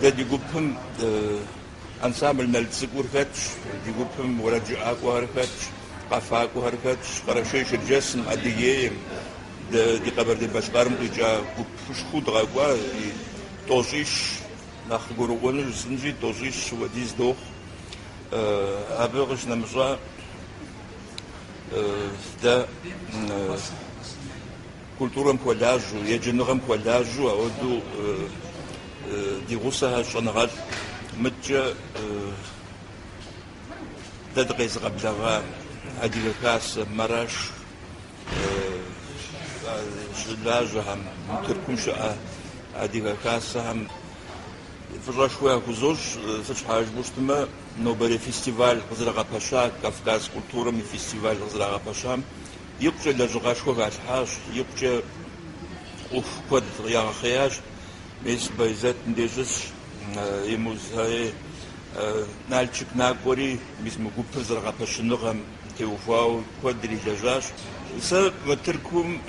Дэ ди гупым ансамбль Налцӏыкӏур хэтщ, ди гупым уэрэджыӏакӏуэхэр хэтщ, къэфакӏуэхэр хэтщ. Къэрэшей-Шэрджэсым, Адыгейм, дэ ди Къэбэрдей-Балъкъэрым къикӏа гупышхуэу дыкъэкӏуаи, тӏощӏищ нэхъ гурыӏуэну жысӏэнщи, тӏощӏищ хуэдиз дохъу. Абы къыщынэмыщӏа дэ культурэм хуэлажьэу, еджэныгъэм хуэлажьэу ауэдэу ди гъусэхэр щӏэныгъэлӏ мыдкӏэ дэ дыкъезыгъэблэгъа Адыгэ Хасэ, Мараш щылажьэхэм, Тыркум щыӏэ Адыгэ Хасэхэм фӏыщӏэшхуэ яхузощӏ, сыт щхьэ жыпӏэу щытмэ, Нобэрей фестиваль къызэрагъэпэща, Кавказ культурэм и фестиваль къызэрагъэпэщам икъукӏэ лэжьыгъэшхуэ халъхьащ, икъукӏэ ӏуэху куэд ягъэхъеящ. Мис Байзэтым дежьысщ и музэи, Налчык накӏуэри, мис мы гупыр зэрыгъэпэщыныгъэм теухуауэ куэдрэ лэжьащ. Сэ мы Тыркум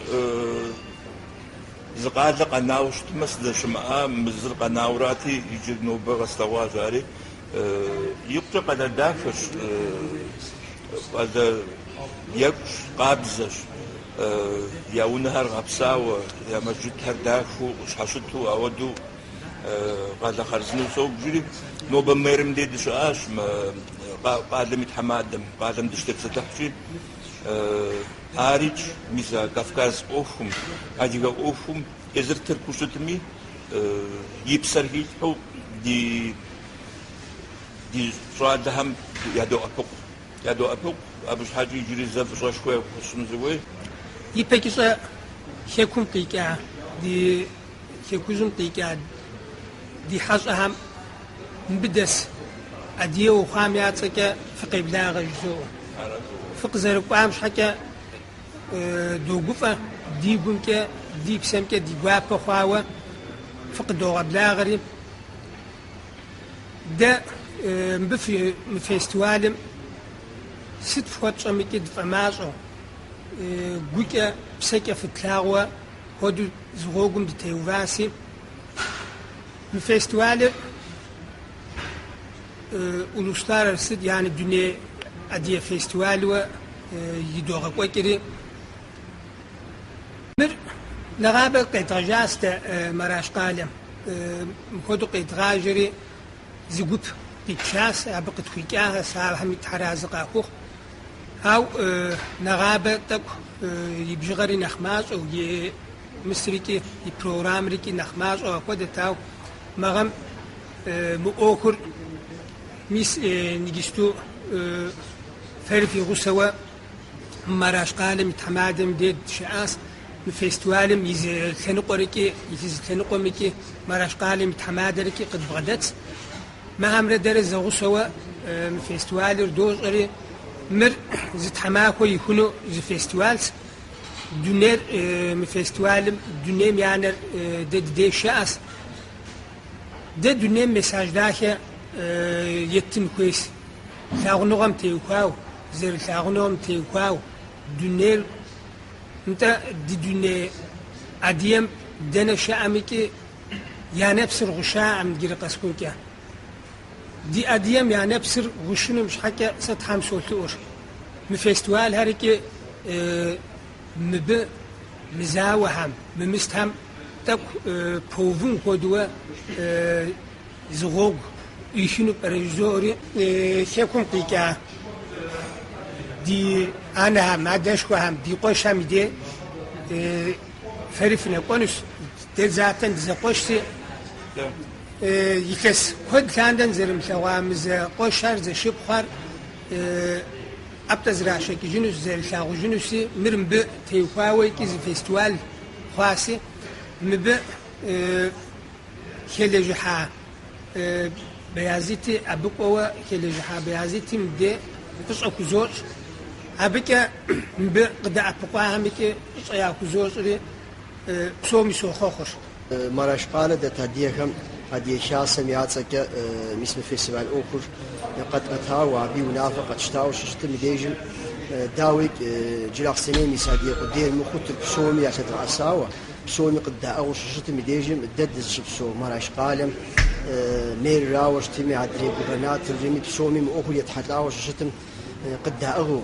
зы къалэ къэнауэ щытмэ, сыздэщымыӏа мы зыр къэнауэ арати, иджы нобэ къэслъэгъуащ ари. Икъукӏэ къалэ дахэщ, къалэ екӏущ, къабзэщ. Я унэхэр гъэпсауэ, я мэжджытхэр дахэу къыщхьэщыту, ауэдэу къалэ хъарзынэу собжри, нобэ мэрым дей дыщыӏащ, къалэм и тхьэмадэм. Къалэм дыщытепсэлъыхьщи, арикӏ, мис а Кавказ ӏуэхум, адыгэ ӏуэхум, Езыр тыркуу щытми, и псэр хилъхьэу ди ди щӏалэхэм ядоӏэпыкъу. Ядоӏэпыкъу, абы щхьэкӏэ иджыри зэ фӏыщӏэшхуэ яхуэсщӏыну сыхуей. Ипэкӏыщӏэ Хэкум къикӏа ди Хэкужьым къикӏа ди хьэщӏэхэм мыбы дэс адыгэу хъуам я цӏэкӏэ фыкъеблагъэ жызоӏэ. Фыкъызэрыкӏуам щхьэкӏэ Догуфӏэ ди гумкӏэ, ди псэмкӏэ ди гуапэ хъуауэ фыкъыдогъэблагъэри. Дэ мыбы мы фестивалым сыт фхуэтщӏэмыкӏи дыфӏэмащӏэу, гукӏэ, псэкӏэ фытлъагъуэ хуэдэу зы гъуэгум дытеуваси. Мы фестивалыр Улусларарасы, яни дуней Адие фестивальуэ идогъэкӏуэкӏри. Мыр нэгъабэ къедгъэжащ дэ Мараш къалэм. Мыхуэду къедгъажэри зы гуп къитшащ, абы къытхуикӏахэщ, ахэми Тхьэр арэзы къахухъу. Ау нэгъабэ тӏэкӏу и бжыгъэри нэхъ мащӏэу, и мысрикӏи, и программрикӏи нэхъ мащӏэу ахуэдэт, ау мы гъэм Мы ӏуэхур мис иджысту фэри фи гъусэуэ Мараш къалэм и тхьэмадэм дей дыщыӏащ. Мы фестивалым и зы лъэныкъуэрыкӏи, и зы лъэныкъуэмкӏи Мараш къалэм и тхьэмадэрыкӏи къыдбгъэдэтс. Мыхэмрэ дэрэ зэгъусэуэ мы фестивалыр дощӏэри, мыр зы тхьэмахуэ ихуну зы фестивалс. Дунейр мы фестивалым, дунейм я нэр дэ ди дей щыӏэс. Дэ дунейм месседж дахэ еттын хуейщ, лъагъуныгъэм теухуау, зэрылъагъуныгъэм теухуау дунейр, нтӏэ, ди дуней адыем дэнэ щыӏэмикӏи я нэпсыр гъущаӏэм джыри къэсыхукӏэ. Ди адыем я нэпсыр гъущыным щхьэкӏэ сэ Тхьэм солъэӏур. Мы фестивальхэр икӏи Мыбы мы зауэхэм, мы мыстэм тӏэкӏу пэувын хуэдэуэ зы гъуэгу ӏуихыну пӏэрэ жызоӏэри. Хэкум къикӏа ди анэхэм, адэшхуэхэм, ди къуэшхэм и де фэри фынэкӏуэнущ, дэ затэн дызэкъуэшси. Илъэс куэд лъандэн зэрымылъэгъуа мы зэкъуэшхэр, зэшыпхъухэр. ӏэплӏэ зрашэкӏыжынус, зэрылъагъужынуси, мыр мыбы теухуауэ икӏи зы фестиваль хъуаси, мыбы хэлэжьыхьа Баязити, абы кӏуэуэ хэлэжьыхьа Баязити мыбдей фӏыщӏэ хузощӏ, абыкӏэ мыбы къыдэӏэпыкъуахэм икӏи фӏыщӏэ яхузощӏри псоми сохъуэхъур. Мараш къалэ дэт адыгэхэм Адыгэ Хасэм я цӏэкӏэ мис мы фестиваль ӏуэхур къэтӏэтауэ, абы и унафэр къэтщтауэ щыщытым и дежым, дауи, Джылахъстэнейм ис адыгэ къудейр мыхъуу тырку псоми ялъэдгъэӏэсауэ, псоми къыддаӏыгъыу щыщытым и дежым, дэ дызыщыпсэу Мараш къалэм мэрырауэ щытми, адрей губернаторрми, псоми мы ӏуэхур етхьэлӏауэ щыщытым къыддаӏыгъыу,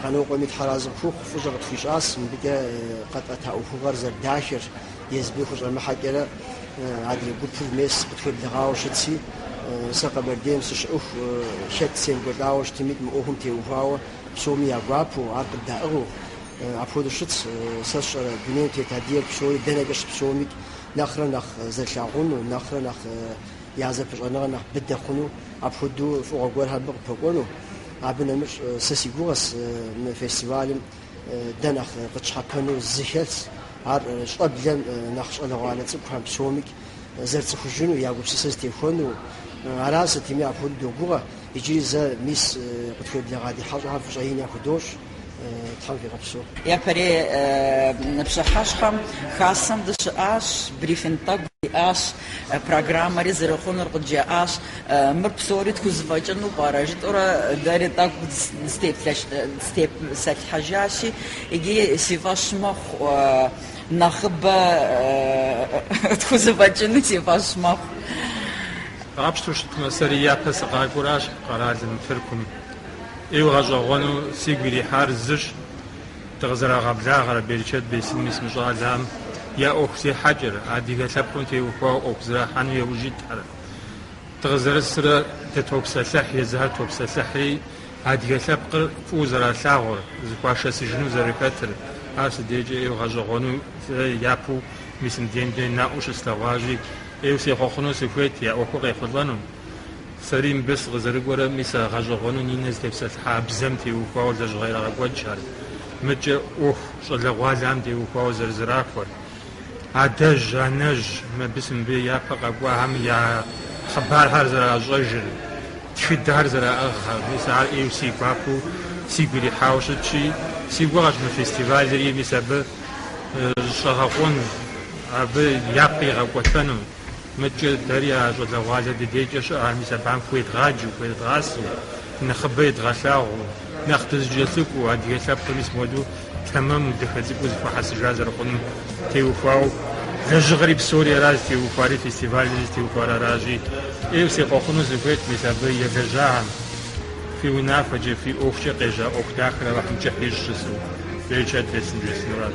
Къанокъуэми тхьэразы къыхухъу фӏыщӏэ къытхуищӏас, мыбыкӏэ къэтӏэта ӏуэхугъуэр зэрыдахэр езыми хущӏэмыхьэкӏэрэ адрей гупыр мес къытхуеблэгъауэ щытщи, сэ Къэбэрдейм сыщыӏыху хэт семыкӏуэлӏауэ щытымикӏ мы ӏуэхум теухуауэ псоми я гуапэу, ар къыддаӏыгъыу апхуэдэу щытщ, сэ сщӏэрэ дунейм тет адыгэр псори дэнэкӏэ щыпсэумикӏ нэхърэ нэхъ зэрылъагъуну, нэхърэ нэхъ я зэпыщӏэныгъэр нэхъ быдэ хъуну, апхуэдэу фӏыгъуэ гуэрхэр абы къыпэкӏуэну. Абы нэмыщӏ сэ си гугъэс мы фестивалым дэ нэхъ къытщхьэпэну зы хэлъс, ар щӏэблэм нэхъ щӏалэгъуалэ цӏыкӏухэм псомикӏ зэрыцӏыхужыну, я гупсысэ зэтехуэну. Аращ сытми апхуэдэу догугъэ, иджыри зэ мис къытхуеблэгъа ди хьэщӏэхэм фӏыщӏэ ин яхудощӏ. Япэрей пщыхьэщхьэм Хасэм дыщыӏащ, брифинг тӏэкӏу диӏащ, программэри зэрыхъунур къыджаӏащ. Мыр псори тхузэфӏэкӏыну пӏэрэ? жытӏэурэ дэри тӏэкӏу дытепсэлъыхьыжащи, иджы си фӏэщ мэхъу, нэхъыбэ тхузэфӏэкӏыну си фӏэщ мэхъу. Къапщтэу щытмэ, сэри япэ сыкъакӏуэращ къэралым, Тыркум. ӏейуэ гъэщӏэгъуэну сигу ирихьар зыщ, дыкъызэрагъэблагъэрэ берычэт бесын, мис мы щӏалэм я ӏуэху зехьэкӏэр, адыгэ лъэпкъым теухуауэ ӏуэху зэрахьэну яужь итхэр. Дыкъызэрысрэ дытопсэлъыхь, езыхэр топсэлъыхьри, адыгэ лъэпкъыр фӏыуэ зэралъагъур, зэхуашэсыжыну зэрыхэтыр, ар сыдейкӏэ ӏейуэ гъэщӏэгъуэну сэ япэу мис мыдейм дей наӏуэу щыслъэгъуащи, ӏейуэ сехъуэхъуну сыхуейт я ӏуэхур къехъулӏэну. Сэри мыбы сыкъызэрыкӏуэрэм, мис а гъэщӏэгъуэну Нинэ зытепсэлъыхьа бзэм теухуауэ лэжьыгъэ ирагъэкӏуэкӏхэр, мыдкӏэ ӏуэху щӏалэгъуалэхэм теухуауэ зэрызэрахуэр. Адэжь, анэжь, мыбы мис мыбы япэ къэкӏуахэм я хъыбархэр зэращӏэжыр, тхыдэр зэраӏыгъхэр, мис ар ӏейуэ си гуапэу сигу ирихьауэ щытщи, си гугъэщ мы фестивалри мис абы щӏэгъэкъуэн, абы япэ игъэкӏуэтэну. Мыдкӏэ дэри а щӏалэгъуалэ дыдейкӏэ щыӏэхэм мис абыхэм хуедгъаджэу, хуедгъасэу, нэхъыбэ едгъэлъагъуу, нэхъ дызэкӏэлъыкӏуэу, адыгэ лъэпкъ мис мыдэу тэмэму, дахэ цӏыкӏуу зэхуэхьэсыжа зэрыхъунум теухуауэ, лэжьыгъэри псори аращ зытеухуари, фестивальри зытеухуар аращи, ӏейуэ сехъуэхъуну сыхуейт, мис абы елэжьахэм, фи унафэкӏэ, фи ӏуэхукӏэ къежьа ӏуэху дахэр Алыхьым кӏыхь ищӏ жысӏэу, берычэт бесын жесӏэнурат.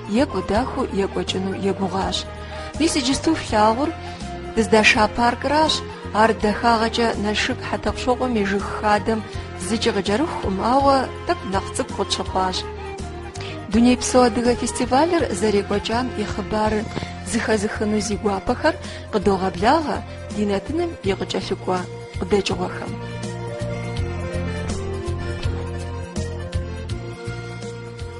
Екӏуу дахэу екӏуэкӏыну егугъащ. Мис иджысту флъагъур дыздаша паркыращ, ар дахагъэкӏэ Налшык Хьэтӏохъущокъуэм и жыг хадэм зыкӏи къыкӏэрыхукъым, ауэ тӏэкӏу нэхъ цӏыкӏу къытщыхъуащ. Дунейпсо адыгэ фестивалыр зэрекӏуэкӏам и хъыбарыр зыхэзыхыну зи гуапэхэр къыдогъэблагъэ ди нэтыным и къыкӏэлъыкӏуэ къыдэкӏыгъуэхэм.